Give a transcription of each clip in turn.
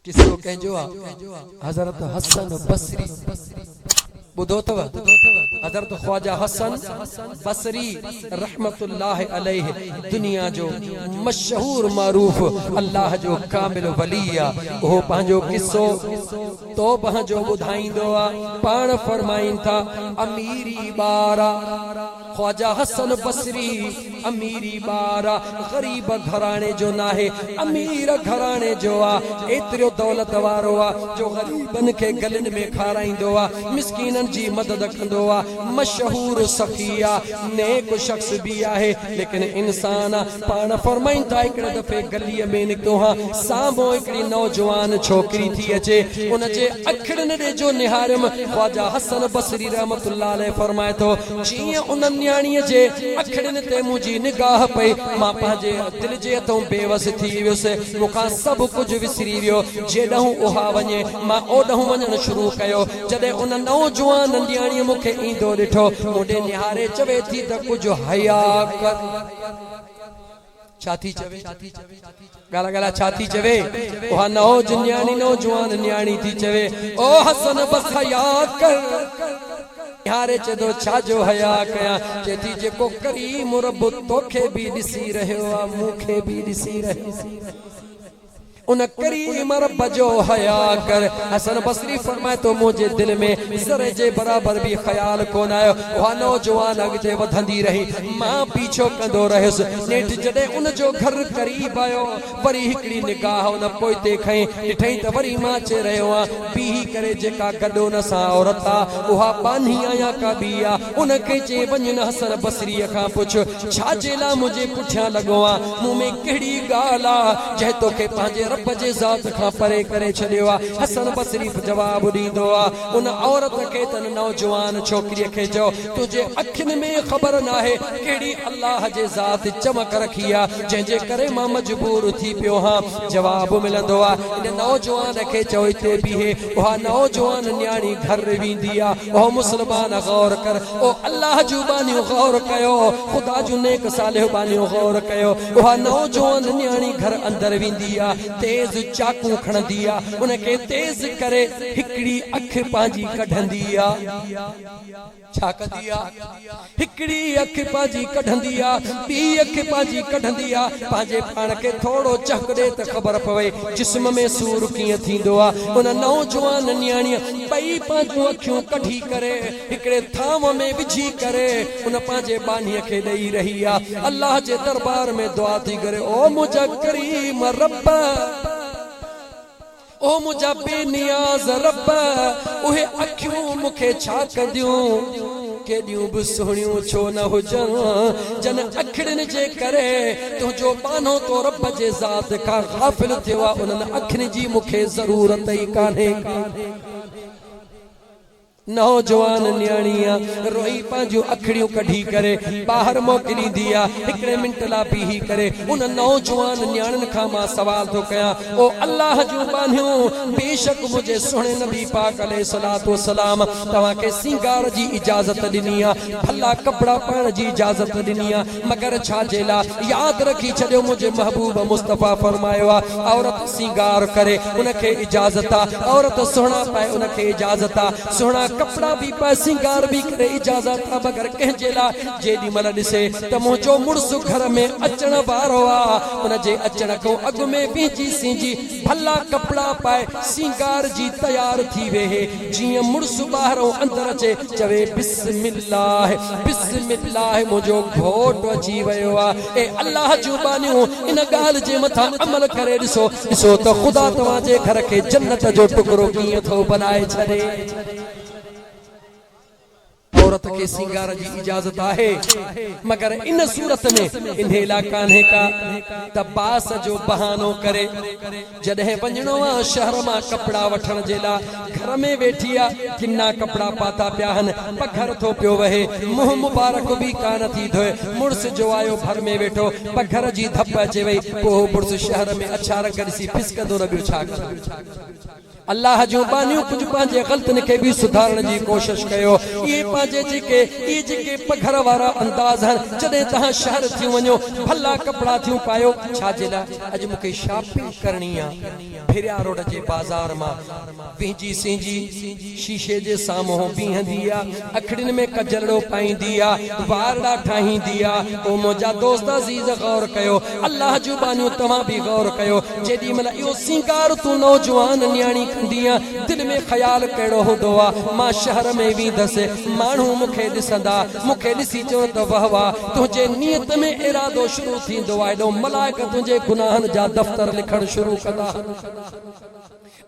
قصو ڪنهن جو آ حضرت حسن بصري ٻڌو اٿو حضرت خواجه حسن بصري رحمت الله عليه دنيا جو مشهور معروف الله جو ڪامل ولي آ اهو پنهنجو قصو توبه جو ٻڌائيندو آ پاڻ فرمائين ٿا اميري ٻار آ خواجه حسن بصري اميري ٻار آ، غريب گهراڻي جو ناهي، امير گهراڻي جو آ، ايتريو دولت وارو آ جو غريبن کي گلين ۾ کارائيندو آ، مسڪينن جي مدد ڪندو آ، مشهور سخي آ، نيڪ شخص به آهي، ليڪن انسان آ، پاڻ فرمائين ٿا هڪڙي دفعي گليء ۾ نڪتو هان، سامهون هڪڙي نوجوان ڇوڪري ٿي اچي، ان جي اکڙين ڏي جو نهاريم، خواجه حسن بصري رحمة الله عليه فرمائي ٿو. ته جيئن ان نياڻيء جي اکڙين تي منهنجي نگاهه پئي، مان پنهنجي دل جي هٿئون بي وس ٿي ويس، مون کان سڀ ڪجهه وسري ويو، جيڏانهن اها وڃي، مان اوڏانهن وڃڻ شروع ڪيو، جڏهن ان نوجوان ننڊياڻيء مون کي ايندو ڏٺو، مون ڏي نهاري چوي ٿي ته ڪجهه حيا ڪر. ڇا ٿي چوي؟ ڳالهه ڳالهه ڇا ٿي چوي؟ اها نوج نياڻي نوجوان نياڻي ٿي چوي، او حسن بس حيا ڪر! نهاري چئي ٿو، ڇا جو حيا ڪيان؟ چئي ٿي، جيڪو ڪريم رب توکي به ڏسي رهيو آ، مون کي به ڏسي رهيو آ. ان ڪريم رب جو حياء ڪر. حسن بصري فرمائي ٿو، مون جي دل ۾ ذري جي برابر به خيال ڪونه آيو. اها نوجوان اڳتي وڌندي رهي. مان پيڇو ڪندو رهيس. نيٺ جڏهن ان جو گهر قريب آيو، وري هڪڙي نگاهه ان پوئتي کنئي ڏٺئين ته وري مان اچي رهيو آهيان. بيهي ڪري جيڪا گڏ ان سان عورت آهي، اها ٻانهي آهي يا ڪا ٻي آهي؟ ان کي چيائين، وڃ نه حسن بصريء کان پڇ. ڇا جي لاء منهنجي پٺيان لڳو آهين؟ مون ۾ ڪهڙي ڳالهه آ، جنهن توکي پنهنجي رب جي ذات کان پري ڪري ڇڏيو آ؟ حسن بصري به جواب ڏيندو آ. ان عورت کي تنهن نوجوان ڇوڪريء کي چئو، تنهنجي اکين ۾ خبر ناهي ڪهڙي الله جي ذات چمڪ رکي آ، جنهن جي ڪري مان مجبور ٿي پيو هان. جواب ملندو آ. ان نوجوان کي چئو هتي بيهي. اها نوجوان نياڻي گهر ويندي آ. او مسلمان غور ڪر او الله جون ٻانهيون غور ڪيو خدا جون نيڪ صالح ٻانهيون غور ڪيو اها نوجوان نياڻي گهر اندر ويندي آ تيز چاقو کڻندي آ ان کي تيز ڪري هڪڙي اک پنهنجي ڪڍندي آ ڇا ڪندي آ هڪڙي اک پنهنجي ڪڍندي آ، ٻي اک پنهنجي ڪڍندي آ، پنهنجي پاڻ کي ٿورو چهڪ ڏي ته خبر پوي جسم ۾ سور ڪيئن ٿيندو آ. ان نوجوان نياڻيء ٻئي پنهنجون اکيون ڪڍي ڪري هڪڙي ٿانو ۾ وجهي ڪري ان پنهنجي ٻانهيء کي ڏئي رهي آ. الله جي دربار ۾ دعا ٿي گهري، او منهنجا ڪريم رب! او منهنجا بي نياز رب، اهي اکيون مون کي ڇا ڪنديون؟ ڪيڏيون به سهڻيون ڇو نه هجن، جن اکڙين جي ڪري تنهنجو ٻانهو تو رب جي ذات کان غافل ٿيو آهي، انهن اکين جي مون کي ضرورت ئي ڪانهي. نوجوان نياڻيء روئي پنهنجون اکڙيون ڪڍي ڪري ٻاهر موڪليندي آ، هڪڙي منٽ لا بيهي ڪري ان نوجوان نياڻين کان مان سوال ٿو ڪيان، او الله جون ٻانهيون! بيشڪ منهنجي سهڻي نبي پاڪ عليه الصلوة والسلام توهان کي سينگار جي اجازت ڏني آ، ڀلا ڪپڙا پائڻ جي اجازت ڏني آ، مگر ڇا جي لاء؟ ياد رکي ڇڏيو منهنجي محبوب مصطفيٰ فرمايو آهي، عورت سينگار ڪري، ان کي اجازت آهي، عورت سهڻا پائي، ان کي اجازت آهي، سهڻا ڪپڙا به پائي، سينگار به ڪري، اجازت آهي، مگر ڪنهن جي لاء؟ جيڏي مهل ڏسي ته منهنجو مڙس گهر ۾ اچڻ وارو آهي، ان جي اچڻ کان اڳ ۾ ويهجي سينجي، ڀلا ڪپڙا پائي، سينگار جي تيار ٿي ويهي. جيئن مڙس ٻاهرئون اندر اچي چوي بسم الله بسم الله منهنجو گهوٽ اچي ويو آ اي الله جون ٻانهيون ان ڳالهه جي مٿان عمل ڪري ڏسو ڏسو ته خدا توهان جي گهر کي جنت جو ٽڪرو ڪيئن ٿو بنائي ڇڏي. عورت کي سينگار جي اجازت آهي مگر ان صورت ۾ انهي لا ڪانهي ڪا ته باس جو بهانو ڪري جڏهن وڃڻو آ شهر مان ڪپڙا وٺڻ جي لا گهر ۾ ويٺي آ ڪنا ڪپڙا پاتا پيا هن پگهر ٿو پيو وهي منهن مبارڪ به ڪانه ٿي ڌوئي مڙس جو آيو ڀر ۾ ويٺو پگهر جي ڌپ اچي وئي پوء هو مڙس شهر ۾ اڇا رنگ ڏسي ڦسڪندو نه ٻيو ڇا ڪندو. الله جون ٻانهيون ڪجهه پنهنجي غلطين کي به سڌارڻ جي ڪوشش ڪيو اهي پنهنجي جيڪي اهي جيڪي پگهر وارا انداز هن جڏهن توهان شهر ٿيون وڃو ڀلا ڪپڙا ٿيون پايو ڇا جي لاء اڄ مون کي شاپنگ ڪرڻي آ ڀريا روڊ جي بازار مان وهنجي سينجي شيشي جي سامهون بيهندي آ اکڙين ۾ ڪجلڙو پائيندي آ، وارڙا ٺاهيندي آ، او منهنجا دوست عزيز غور ڪيو، الله جون ٻانهيون توهان به غور ڪيو، جيڏي مهل اهو سينگار تون نوجوان نياڻي ڪندينء، دل ۾ خيال ڪهڙو هوندو آ، مان شهر ۾ ويندس، ماڻهو مون کي ڏسندا، مون کي ڏسي چون ته وه وه، تنهنجي نيت ۾ ارادو شروع ٿيندو آ، هيڏو ملائڪ تنهنجي گناهن جا دفتر لکڻ شروع ڪندا.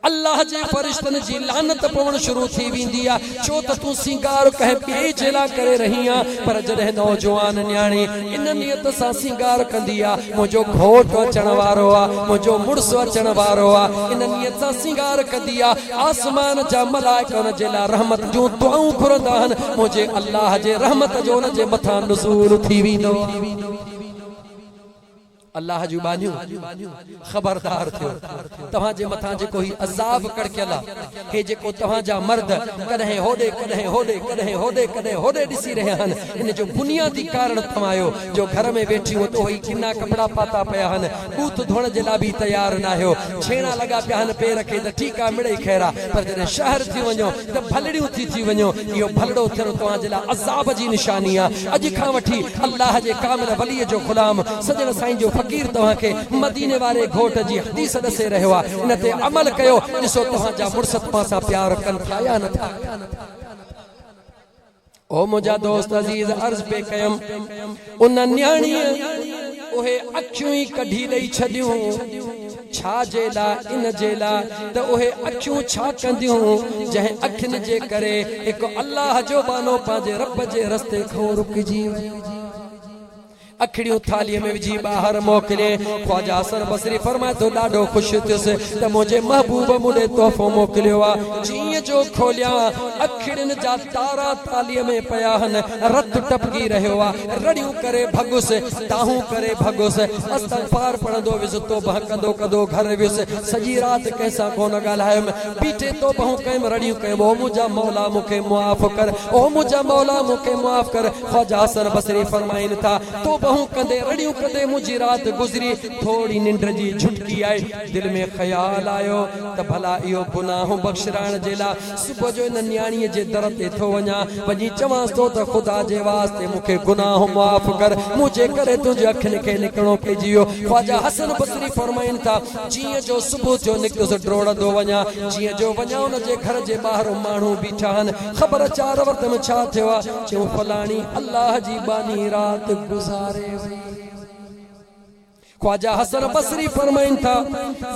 الله جي فرشتن جي لعنت پوڻ شروع ٿي ويندي آ ڇو ته تون سينگار ڪنهن ٻئي جي لاء ڪري رهين آ پر جڏهن نوجوان نياڻي ان نيت سان سينگار ڪندي آ منهنجو گهوٽ اچڻ وارو آ منهنجو مڙس اچڻ وارو آ ان نيت سان سينگار ڪندي آ آسمان جا ملائڪ ان جي لاء رحمت جون دعائون گهرندا آهن منهنجي الله جي رحمت جو ان جي مٿان نزول ٿي ويندو آ الله جون ٻانهيون! خبردار ٿيو، توهان جي مٿان جيڪو هي عذاب ڪڙڪيل آ، هي جيڪو توهان جا مرد ڪڏهن هوڏي ڪڏهن هوڏي ڪڏهن هوڏي ڪڏهن هوڏي ڏسي رهيا آهن، ان جو بنيادي ڪارڻ توهان آهيو، جو گهر ۾ ويٺيون اٿو هي ڪنا ڪپڙا پاتا پيا آهن، ٻوٿ ڌوئڻ جي لاء به تيار ناهيو، ڇيڻا لڳا پيا آهن، پير کي ته ٺيڪ آ مڙئي خير آ، پر جڏهن شهر ٿي وڃو، ته ڀلڙيون ٿي ٿي وڃو، اهو ڀلڙو ٿيڻ توهان جي لاء عذاب جي نشاني آهي، اڄ کان وٺي الله جي ڪامل ولي جو غلام سڄڻ سائين جو فقير توهان کي مديني واري گهوٽ جي حديث ڏسي رهيو آهي، ان تي عمل ڪيو، ڏسو توهان جا مڙس توهان سان پيار ڪن ٿا يا نٿا ڪن. او منهنجا دوست عزيز عرض پئي ڪيم ان نياڻيء اهي اکيون ئي ڪڍي ڏئي ڇڏيون ڇا جي لاء ان جي لاء ته اهي اکيون ڇا ڪنديون جنهن اکين جي ڪري هڪ الله جو ٻانهو پنهنجي رب جي رستي کان رڪجي ويو اکڙيون ٿالهيء ۾ وجهي ٻاهر موڪلي. خواجه حسن بصري فرمائي ٿو، ڏاڍو خوش ٿيس ته منهنجي محبوب مون ڏي تحفو موڪليو آ. جيئن جو کوليان، اکڙين جا تارا ٿالهيء ۾ پيا هن. رت ٽپڪي رهيو آ. رڙيون ڪري ڀڳس، دانهون ڪري ڀڳس. استغفار پڙهندو ويس. توبهه ڪندو ڪندو گهر ويس. سڄي رات ڪنهن سان ڪونه ڳالهايم. بيٺي توبهون ڪيم، رڙيون ڪيم، او منهنجا مولا مون کي معاف ڪر، او منهنجا مولا مون کي معاف ڪر. خواجه حسن بصري فرمائن ٿا، توبهون ڪندي، رڙيون ڪندي منهنجي رات گذري، ٿوري ننڊ جي جهٽڪي آئي، دل ۾ خيال آيو ته ڀلا اهو گناهون بخشرائڻ جي لاء صبح جو ان نياڻيء جي در تي ٿو وڃان، وڃي چوانس ٿو ته خدا جي واسطي مون کي گناهون معاف ڪر، منهنجي ڪري تنهنجي اکين کي نڪڻو پئجي ويو. خواجه حسن بصري فرمائن ٿا، جيئن جو صبح جو نڪتس ڊوڙندو وڃان، جيئن جو وڃان ان جي گهر جي ٻاهر ماڻهو بيٺا آهن، خبر اچان عورت ۾ ڇا ٿيو آهي؟ چيو فلاڻي الله جي ٻانهي رات گذاري وئي. خواجه حسن بصري فرمائن ٿا،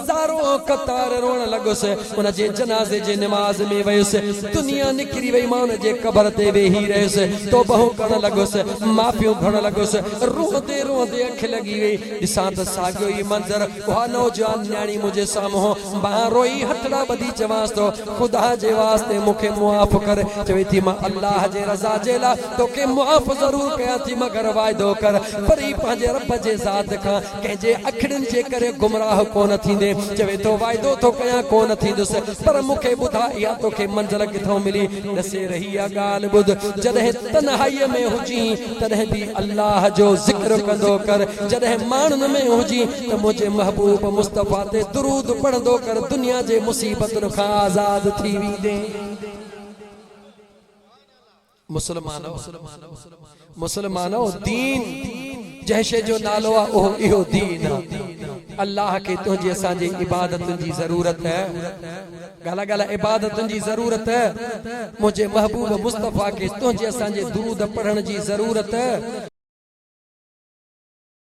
زارو قطار روئڻ لڳس، ان جي جنازي جي نماز ۾ ويس، دنيا نڪري وئي، مان ان جي قبر تي ويهي رهيس، توبهون ڪرڻ لڳس، معافيون گهرڻ لڳس، روئندي روئندي اک لڳي وئي، ڏسان ته ساڳيو ئي منظر اها نوجوان نياڻي منهنجي سامهون مان روئي هٿڙا ٻڌي چوانس ٿو خدا جي واسطي مون کي معاف ڪر چوي ٿي مان الله جي رضا جي لاء توکي معاف ضرور ڪيان ٿي مگر واعدو ڪر وري پنهنجي رب جي ذات کان ڪنهن جي اکڙين جي ڪري گمراهه ڪونه ٿيندي چوي ٿو واعدو ٿو ڪيان ڪونه ٿيندس پر مون کي ٻڌاء اها توکي منزل ڪٿئون ملي ڏسي رهي آ ڳالهه ٻڌ جڏهن تنهائيء ۾ هجين، تڏهن به الله جو ذڪر ڪندو ڪر، جڏهن ماڻهن ۾ هجين ته منهنجي محبوب مصطفيٰ تي درود پڙهندو ڪر، دنيا جي مصيبتن کان آزاد ٿي ويندين. مسلمانؤ! مسلمانؤ! دين، جنهن شيء جو نالو آهي، اهو اهو دين آهي. الله کي تنهنجي اسان جي عبادتن جي ضرورت. ڳالهه ڳالهه عبادتن جي ضرورت، منهنجي محبوب مصطفيٰ کي تنهنجي اسان جي درود پڙهڻ جي ضرورت.